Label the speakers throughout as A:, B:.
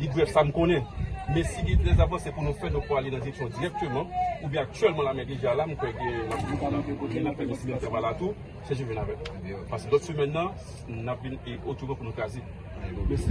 A: Li brèf sa m konnen. Men si gen de avanse pou nou fè nou pwale nan direksyon dirèkteman oubyen aktyèlman lame deja la m kwè gen lòt moun ki nan kote nan fè menm travay la tou se jwenn avè m pase lòt semèn nan n ap vin e otouman pou nou kraze mèsi.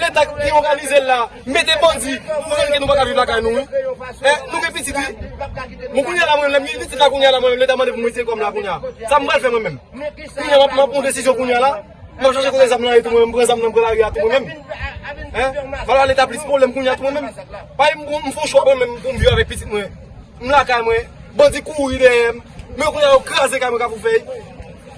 B: Leta ki organize l la mete bandi pou fè ke nou pa ka viv lakay nou wi. E nou gen pitit wi. Mwen kounye la mwen menm, lè m gen pitit la kounye la mwen menm leta mande pou m retire kò m la kounye la. Sa m pral fè mwen menm. Kounye la m ap pran desizyon kounye la. M ap chache kote zam nan ye tou mwen menm, m pran zam nan m pran lari a tou mwen menm. E m ala leta plis pwoblèm kounye a tou mwen menm. Paske m fè yon chwa mwen menm pou m viv avèk pitit mwen. M lakay mwen, bandi kouri dèyè m. Men kounye la yo kraze kay mwen kafoufèy.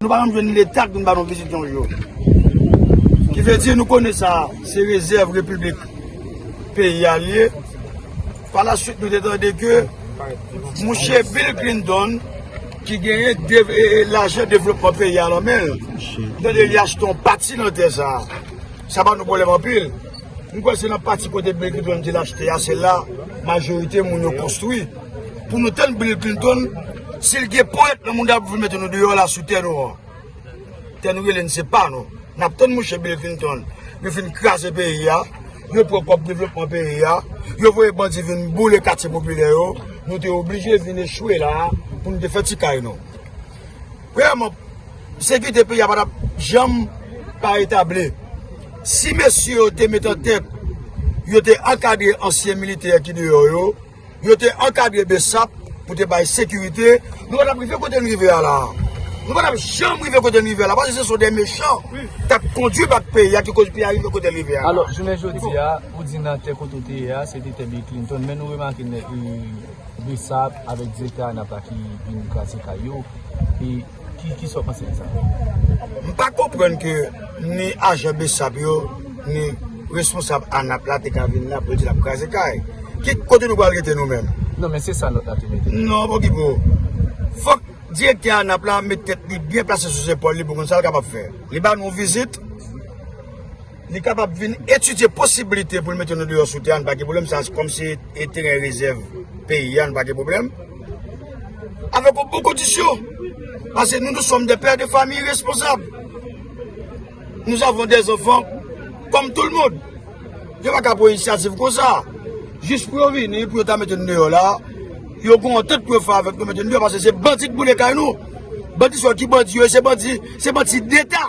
C: Nou pa janm jwenn leta k vin ba nou vizit yon jou. Ki vle di nou konnen sa a se rezèv repiblik peyi a li ye. Pa la suit nou te tande ke mouche Bill Clinton ki genyen lajan devlopman peyi a nan men l. Tande li achte yon pati nan tè sa a. Sa ba nou pwoblèm anpil. M kwè se nan pati kote Bill Clinton di l achte a se la majorite moun yo konstwi. Pou nou tann Bill Clinton, si l gen ponyèt nan moun kap vle mete nou deyò la sou tè nou an. Tè nou rele n se pa nou. Nap tann mouche Bill Clinton. Yo fin kraze peyi a, yo pran kòb devlopman peyi a, yo voye bandi vin boule katye popilè yo, nou te oblije vin echwe la a pou nou te fè ti kay nou. Premyèman, sekirite peyi a pa tap janm pa etabli. Si mesye yo te met an tèt, yo te ankadre ansyen militè ki deyò yo. Yo te ankadre Bessap pou te bay sekirite. Nou pa t ap rive kote n rive a la. Nou pa t ap janm rive kote n rive a la. Paske se sou de mechan k ap kondui bak peyi a ki koz peyi a rive kote l rive a la. Alò, jounen jodi a,
D: ou di nan tè kote w te ye a, se te tè Bill Clinton. Men nou remake nèg Bessap avèk Direktè ANAP la ki vin kraze kay yo. Ki sa w panse de sa? M pa
C: konprann ke ni ajan bsap yo, ni responsab ANAP la te ka vin la pou yo di lap kraze kay. Ki kote nou pral rete nou menm? Non men se sa lòt la
D: tou mete. Non bon Pipo,
C: fòk direktè ANAP la met tèt li byen plase sou zepòl li pou konn sa l kapab fè. Li ba nou vizit. Li kapab vin etidye posibilite pou l mete nou deyò sou tè a, nou pa gen pwoblèm sa a, kòm se e teren rezèv peyi a, nou pa gen pwoblèm. Avèk yon bon kondisyon, pase nou nou sòm de pè de fami responsab. Nou zavon de zanfan, kòm tou l moun. Yo pa ka pran inisyativ kon sa. Jis pou yo vini, pou yo ta mete nou deyò la, yo kon an tèt pou yo fè avèk nou mete nou deyò, pase se bandi k boule kay nou. Bandi sa yo ki bandi yo, se bandi, se bandi deta.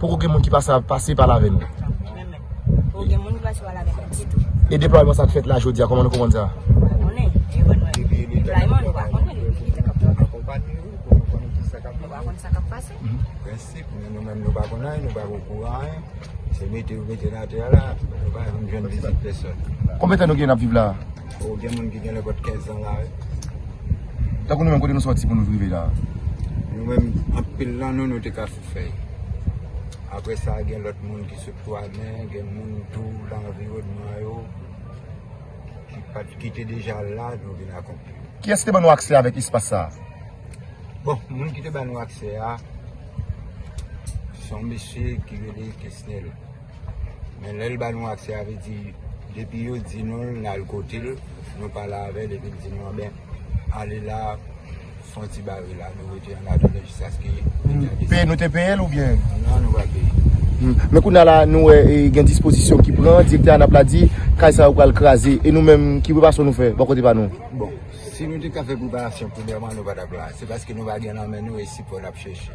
E: Poko gen moun ki
B: pase pa la avè nou.
E: E deplwayman sa
B: k fèt la jodi a, kòman nou
E: konprann
F: sa? Konbyen tan nou gen n ap
B: viv la a? Oh gen moun ki
F: genlè bat 15 ans la wi.
B: Tankou nou menm kote nou soti pou nou rive la. Nou menm
F: anpil nan nou nou te ka sou fèy. Aprè sa gen lòt moun ki sot Twamen, gen moun tou nan anviwònman yo ki pat ki te deja la nou vin akonpli. Kiyès ki te ban nou aksè
B: avèk espas sa a? Bon,
F: moun ki te ban nou aksè a se yon mesye ki rele Kesnel. Men lè l ba nou aksè a vle di depi yo di nou l n al kote l nou pale avè l epi l di nou anben ale la fon ti bare la nou rete ann atandan jiskaske leta deside. Nou te peye l oubyen?
B: Non nou pa peye.
F: Men kounye a la nou
B: wè gen dispozisyon ki pran direktè ANAP la di kay sa yo pral kraze e nou menm ki preparasyon nou fè bò kote pa nou? Bon si nou
F: te ka fè preparasyon premyèman nou pa t ap la se paske nou pa gen nan men nou e sipò n ap chèche.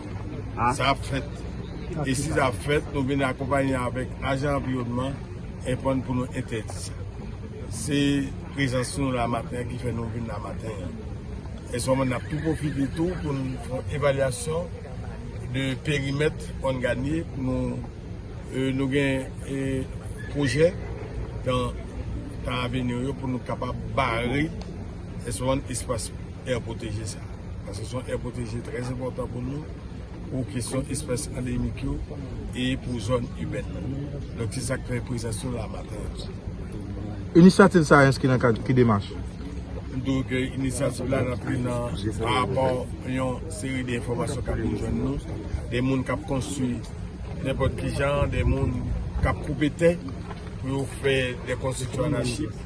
A: Sa ap fèt. E si sa ap fèt, nou vin akonpanye avèk ajan anviwònman enpòn pou nou entèdi sa. Se prezans nou la maten an ki fè nou vin la maten an. E sèlman n ap tou pwofite tou pou n fè yon evalyasyon de perimèt Hòn Ganye. Nou gen pwojè nan tan aveni yo pou nou kapab bare espas èr pwoteje sa. Paske se yon aire protégée très enpòtan pou nou, pou kesyon espès andemik yo e pou zòn ibèn nan. Donk se sa k fè prezans nou la maten an.
G: Inisyativ sa a enskri nan kad ki demach? M dwe ke
A: inisyativ la rantre nan parapò yon seri de enfòmasyon k ap vin jwenn nou, de moun k ap konstwi nenpòt ki jan, de moun k ap koupe tè pou yo fè de konstriksyon anachik.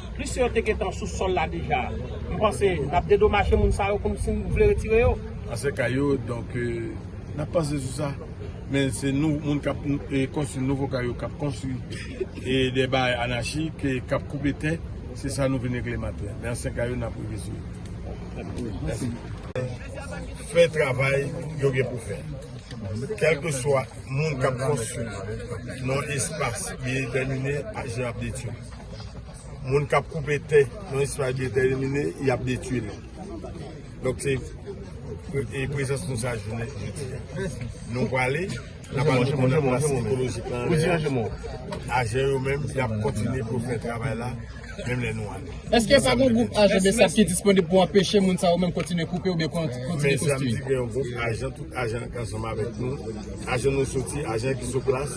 H: Plis yo te gentan sou sòl la deja. M panse n ap dedomaje moun sa yo kòmsi n vle retire yo. Ansyen kay yo,
A: donk n ap panse sou sa. Men se nou moun k ap konstwi nouvo kay yo k ap konstwi e de bagay anachik e k ap koupe tè. Se sa nou vin regle maten an. Men ansyen kay yo n ap rive sou yo. Mèsi. Fè travay yo gen pou fè. Kèlkeswa moun k ap konstwi nan espas li detèmine, ajan ap detwi. moun kap koupe tè nan espas detèmine yap detui li donk se
I: e prezans nou sa jounen jodi a nou pwale nan pa nou konnen mwen se ekolojik lan lè a ajen yo menm yap kontinye pou fè travay la menm lè nou ale eske pa gen gwoup
J: ajen besap ki disponib pou anpeche moun sa yo menm kontinye koupe ou byen kontinye konstwi men sa m di gen yon
I: gwoup ajen tout ajen ansanm avèk nou ajen nou soti ajen ki sou plas